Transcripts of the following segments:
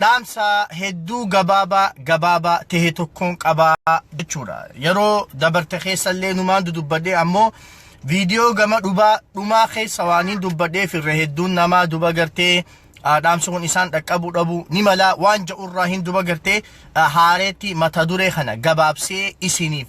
Dhaamsa hedduu gabaabaa gabaabaa tehe tokkoon qaba jechuudha. Yeroo dabarte keessa illee numaan dudubbadhe ammoo viidiyoo gama dhubaa dhumaa keessa waan hin dubbadheef irra hedduun namaa duba gartee ah, dhaamsi kun isaan dhaqqabuu dhabu ni mala waan ja'urraa hin duba gartee ah, haareetti mata duree kana gabaabsee isiniif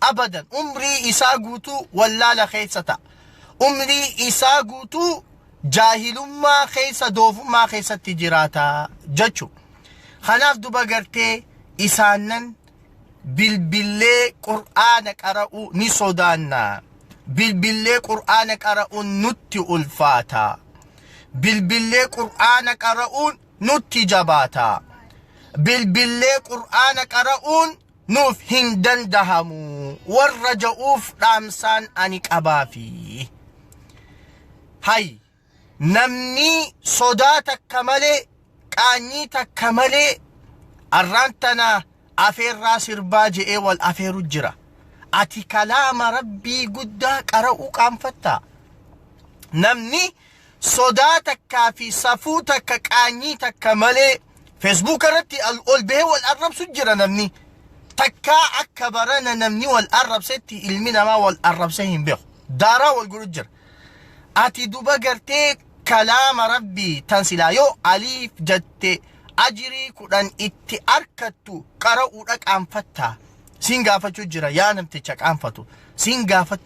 abadan umrii isaa guutuu wallaala keessa ta'a. Umrii isaa guutuu jaahilummaa keessa doofummaa keessatti jiraata jechu. Kanaaf duba gartee isaannan bilbillee qur'aana qara'uu ni sodaanna. Bilbillee qur'aana qara'uun nutti ulfaata. Bilbillee qur'aana qara'uun nutti jabaata. Bilbillee qur'aana qara'uun nuuf hin dandahamu warra ja'uuf dhaamsaan ani qabaafi. Hay namnii sodaa takka malee qaanyii takka malee arraan tana afeerraa sirbaa je'ee wal afeeru jira. Ati kalaama rabbii guddaa qara'uu qaanfattaa. Namni sodaa takkaa fi safuu takka qaanyii takka malee feesbuuka irratti al- ol bahee wal arrabsu jira namni takkaa akka barana namni wal arrabsetti ilmi namaa wal arrabsee hin beeku daaraa wal godhu jira ati duba gartee kalaama rabbii tan silaa yoo aliif jatte ajirii kudhan itti arkattu qara'uudha qaanfatta siin gaafachuu jira yaa namticha qaanfatu siin gaafatu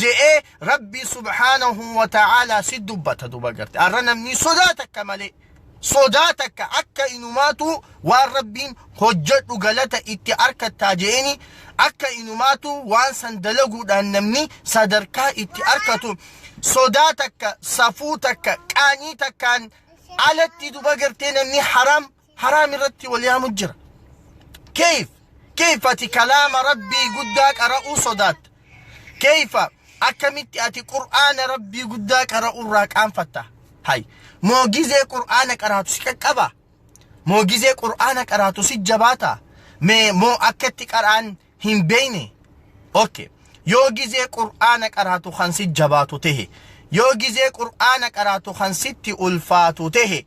je'ee Rabbii subhaanahu wa ta'aalaa si dubbata duba garte. Arra namni sodaa takka malee sodaa takka akka inumaatu waan Rabbiin hojjedhu galata itti arkattaa je'eeni akka inumaatu waan san dalaguudhaan namni sadarkaa itti arkatu sodaa takka safuu takka qaanii takkaan alatti duba gartee namni haram haraam irratti wal yaamu jira keeyf keeyf ati kalaama rabbii guddaa qara'uu sodaatta keeyfa akkamitti ati qur'aana rabbii guddaa qara'uu irraa qaanfatta hay moo gizee qur'aana qaraatu si qaqqaba moo gizee qur'aana qaraatu si jabaata mee moo akkatti qaraan hin beeyne okay yoo gizee qur'aana qaraatu kan si jabaatu tehe yoo gizee qur'aana qaraatu kan sitti ulfaatu tehe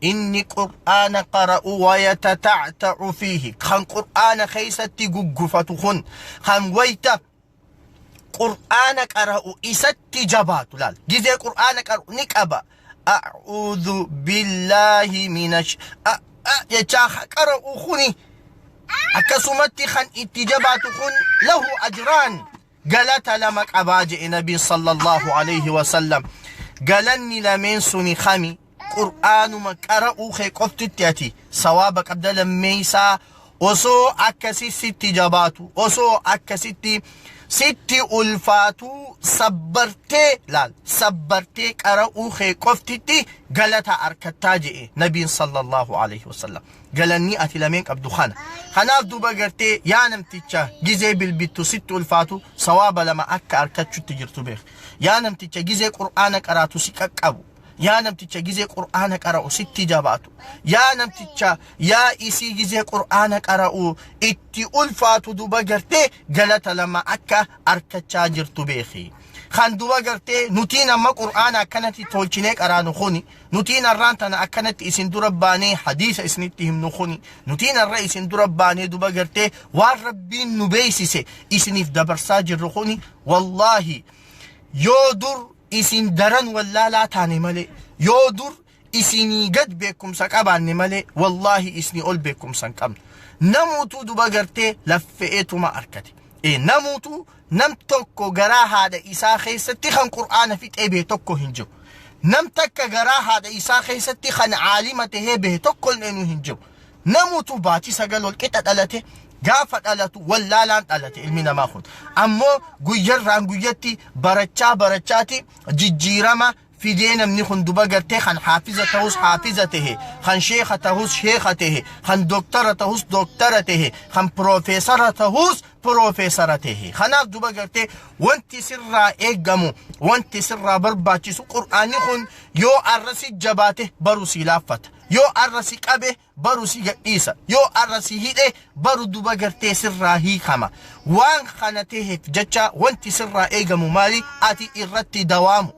inni qur'aana qara'u wayatata'ta'u fiihi kan qur'aana keessatti guggufatu kun kan wayta qur'aana qara'u isatti jabaatu laal gizee qur'aana qara'u ni qaba a'uudhu billaahi minash jechaa qara'u kuni akkasumatti kan itti jabaatu kun lahu ajraan galata lama qabaa je'e nabiin sallallahu alayhi wasallam galanni lameen suni kami qur'aanuma qara'uu kee qoftitti ati sawaaba qabda lammeeysaa osoo akkasi sitti jabaatu osoo akkasitti sitti ulfaatu sabbartee laal sabbartee qara'uu kee qoftitti galata arkattaa je'e nabiin sallallahu alayhi wasallam galannii ati lameen qabdu kana kanaaf duuba gartee yaa namticha gizee bilbittu sitti ulfaatu sawaaba lama akka arkachutti jirtu beek yaa namticha gizee qur'aana qaraatu si qaqqabu yaa namticha gizee qur'aana qara'u sitti jabaatu yaa namticha yaa isii gizee qur'aana qara'u itti ulfaatu duuba gartee galata lama akka arkachaa jirtu beeki kan duuba gartee nutiin amma qur'aana akkanatti tolchinee qaraanu kuni Nutiin arraan tana akkanatti isin dura baanee hadiisa isinitti himnu kuni nutiin arra isin dura baanee duba gartee waan rabbiin nu beeksise isiniif dabarsaa jirru kuni wallaahi yoo dur isin daran wallaalaa taane malee yoo dur isinii gad beekumsa qabaanne malee wallaahi isinii ol beekumsa hin qabnu namuutuu duba gartee laffe'eetuma arkate ee namuutuu nam tokko garaa haadha isaa keessatti kan qur'aana fixee bahe tokko hin jiru nam takka garaa haadha isaa keessatti kan aalima tahee bahe tokko illee hin jiru namutu baatii sagal ol qixa dhalate gaafa dhalatu wallaalaan dhalate ilmi namaa kun ammoo guyyarraan guyyatti barachaa barachaati jijjiirama fidee namni kun duba gartee kan haafiza tahus haafiza tahe kan sheeka tahus sheeka tahe kan doktara tahus doktara tahe kan piroofeesara tahus piroofeesara tahe kanaaf duba gartee wanti sirraa eegamu wanti sirraa barbaachisu qur'aanni kun yoo arra si jabaate baru si laaffata yoo arra si qabe baru si gadhiisa yoo arra si hidhe baru duba gartee sirraa hiikama waan kana teheef jecha wanti sirraa eegamu maali ati irratti dawaamu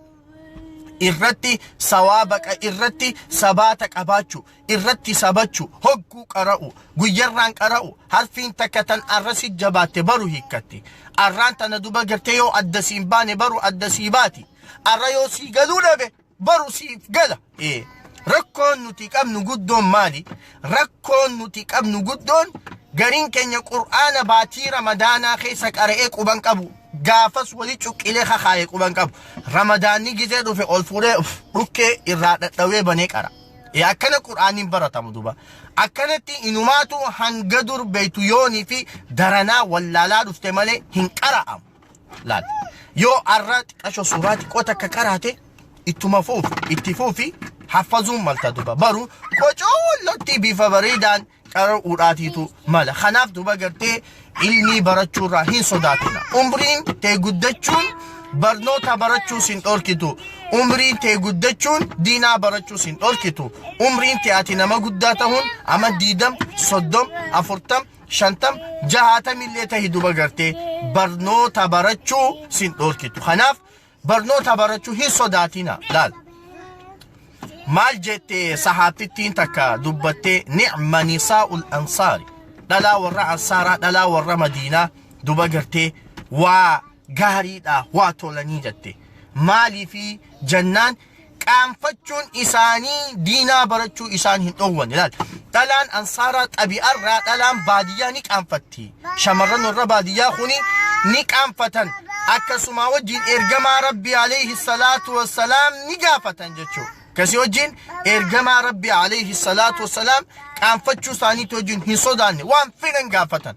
irratti sawaabaqa irratti sabaata qabaachu irratti sabachu hogguu qara'u guyyarraan qara'u harfiin takka tan arra si jabaatte baru hiikkatti arraan tana duba gartee yoo adda siin baane baru adda sii baati arra yoo sii galuu dhabe baru siif gala. Ee, Rakkoon nuti qabnu guddoon maali? Rakkoon nuti qabnu guddoon gariin keenya qur'aana baatii ramadaanaa keessa qara'ee quban qabu. Gaafas wali cuqqilee kakaaye quban qabu. Ramadaanni gizee dhufe ol fuudhee uf, dhukkee irraa dhadhawee banee qara. Ee, Akkana qur'aanni hin baratamu duba. Akkanatti inumaatu hanga dur beektu yoonii fi daranaa wallaalaa dhufte malee hin qara'amu. laal yoo arraa xiqqasho suuraa xiqqoo takka qaraate ittuma fuuf itti fuufi haffazuun malta duba baru qocoollotti bifa bareedaan qara'uudhaatiitu mala kanaaf duba gartee ilmii barachuurraa hin sodaatina umriin tee guddachuun barnoota barachuus hin dhorkitu umriin tee guddachuun diinaa barachuus hin dhorkitu umriin tee ati nama guddaa tahuun ama diidam soddom afurtam shantam jahaatamillee tahi duba gartee barnoota barachuu sin dhoorkitu kanaaf barnoota barachuu hin sodaatina laal maal jette sahaabtittiin takka dubbattee ni'ma nisaa'ul ansaari dhalaa warra ansaaraa dhalaa warra madiinaa duba gartee waa gaariidha waa tolanii jette maaliifi jannaan qaanfachuun isaanii diinaa barachuu isaan hin dhoowwan ilaal dhalaan ansaaraa xabi'arraa dhalaan baadiyyaa ni qaanfatti shamarran warra baadiyyaa kuni ni qaanfatan akkasumaa wajjin ergamaa rabbi alayhi salaatu wassalaam ni gaafatan jechuu kasi wajjin ergamaa rabbi alayhi salaatu wassalaam qaanfachuu isaaniitti wajjin hin sodaanne waan fedhan gaafatan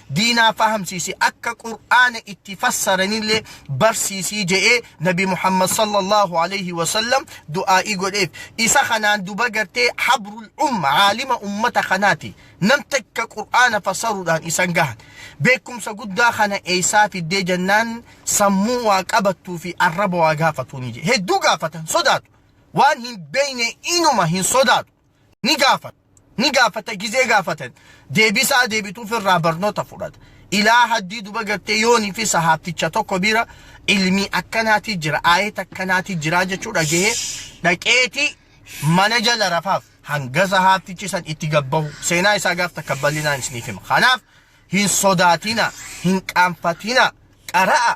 diinaa fahamsiisi akka qur'aana itti fassaranillee barsiisii je'ee nabi muhammad sallallahu alayhi wasallam du'aa'ii godheef isa kanaan duba gartee habrul umma aalima ummata kanaati nam takka qur'aana fassaruudhaan isan gahan beekumsa guddaa kana eeysaa fiddee jannaan sammuu waa qabattuu fi arraba waa gaafatuuni jedhe hedduu gaafatan sodaatu waan hin beeyne inuma hin sodaatu ni gaafata ni gaafata gizee gaafatan deebisaa deebituuf irraa barnoota fudhata ilaa haddii duba gartee yoonii fi sahaabticha tokko bira ilmii akkanaatii jira aayet akkanaatii jira jechuu dhagahee dhaqeetii mana jala rafaaf hanga sahaabtichi san itti gabbahu seenaa isaa gaaf takka bal'inaan isiniif hima kanaaf hin sodaatina hin qaanfatina qara'a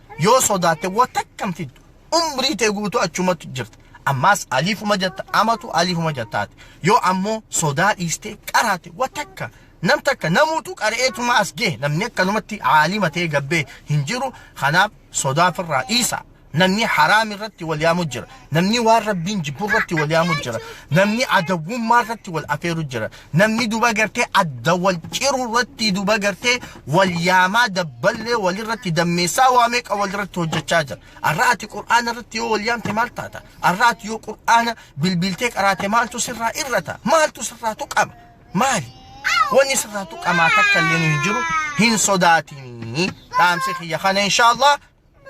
yoo sodaatte waa takka hin fiddu umrii tee guutuu achumatti jirta ammaas aliifuma jatta amatu aliifuma jattaati yoo ammoo sodaa dhiistee qaraate waa takka nam takka namuutu qara'eetuma as gee namni akkanumatti aalima ta'ee gabbee hin jiru kanaaf sodaa firraa dhiisa namni haraam irratti wal yaamu jira Namni waan rabbiin jibbu irratti wal yaamu jira. Namni adawwummaa irratti wal afeeru jira. Namni duba gartee adda wal ciru irratti duba gartee wal yaamaa dabballee walirratti dammeessaa waa meeqa walirratti hojjechaa jira. Arra ati qur'aana irratti yoo wal yaamte maal taata? Arra ati yoo qur'aana bilbiltee qaraate maaltu sirraa irrata? Maaltu sirraa tuqama? Maali? Wanni sirraa tuqamaa takka illee hin jiru hin sodaatinii. Dhaamsi kiyya kana inshaallah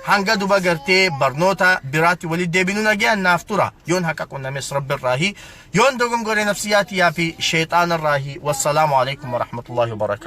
Hanga duba gartee barnoota biraatti walitti deebinu nagayaan naaf tura. Yoon haqa qunnames rabbirraahi. Yoon dogongore nafsiyyaa tiyyaa fi sheexaanarraahi. Wassalaamu alaikum warahmatullaahi wabarakaatuh.